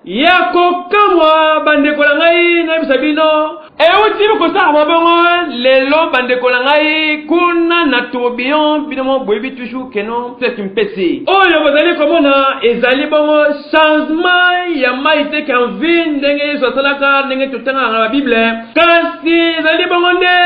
ya kokamwa bandeko na ngai nayebisa bino euti kosala mabongo lelo bandeko na ngai kuna na tourbillon bino mo boyebi toujours keno toeki mpesi oyo bozali komona ezali bongo changement ya mai te canvin ndenge yesu asalaka ndenge totangaka na babible kasi ezali bongo nde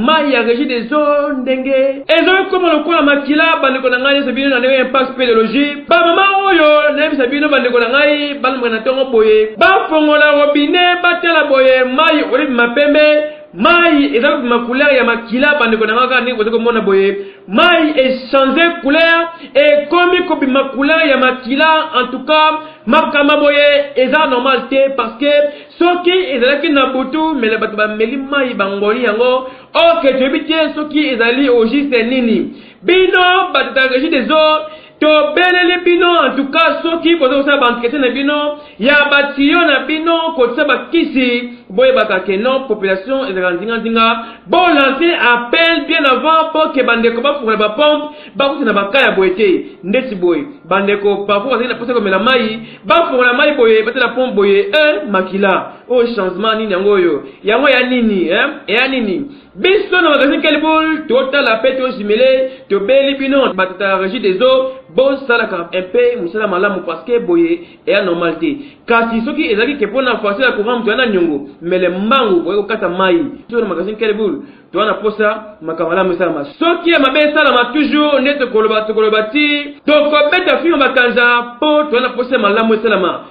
mai ya regi des eaux ndenge ezali koma lokola makila bandeko na ngai nyonso bino na ndenge ya impact speleologie bamama oyo nayebisa bino bandeko na ngai balamaka na ntongo boye bafongola robine batala boye mai olibima pembe Mayi eza kobima couleur ya makila bandeko na nga kaka ndenge bozo komona boye mayi e changer couleur ekomi kobima couleur ya makila en tout cas makama boye eza normal te parce que soki ezalaki na butu mele bato bameli mayi bangoli yango ok toyebi te soki ezali au juste nini bino bato ya regie des eaux Tobeleli bino en tout cas soki boza kosala ba entretien na bino ya ba tuyaux na bino kotisa ba kisi boyebaka que non population ezalaka nzinga nzinga bo lancer appel bien avant pour que ba ndeko bafungola ba pompe bakota na ba cas ya boye te ndeti boye ba ndeko parfois bazali na posa komela mayi bafungola mayi boye batela pompe boye eh makila oyo changement nini yango oyo yango ya nini eh ya nini Biso na magasin Kelbul totala pe to jumele tobeli bino bato ta regie des eaux bosalaka un peu mosala malamu parce que boye eya normal te kasi soki ezalaki ke mpo na facture ya courant moto ya na niongo mele mbangu boye kokata mai biso na magasin Kelbul toa na posa makambo malamu esalama soki ya mabe esalama toujours nde tokoloba tokoloba ti tokobeta fima bakanza mpo toa na posa ya malamu esalama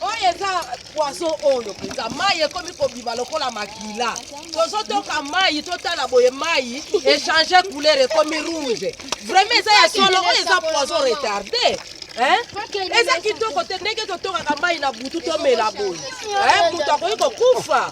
oyo eza poison oyo mpenza mai ekomi kobima lokola makila tozotoka mai totala boye mai echange couleur ekomi rouge vraiment eza ya solo oyo eza poison retarde eza kitoko te ndenge totokaka mai na butu tomela boye moto akoki kokufa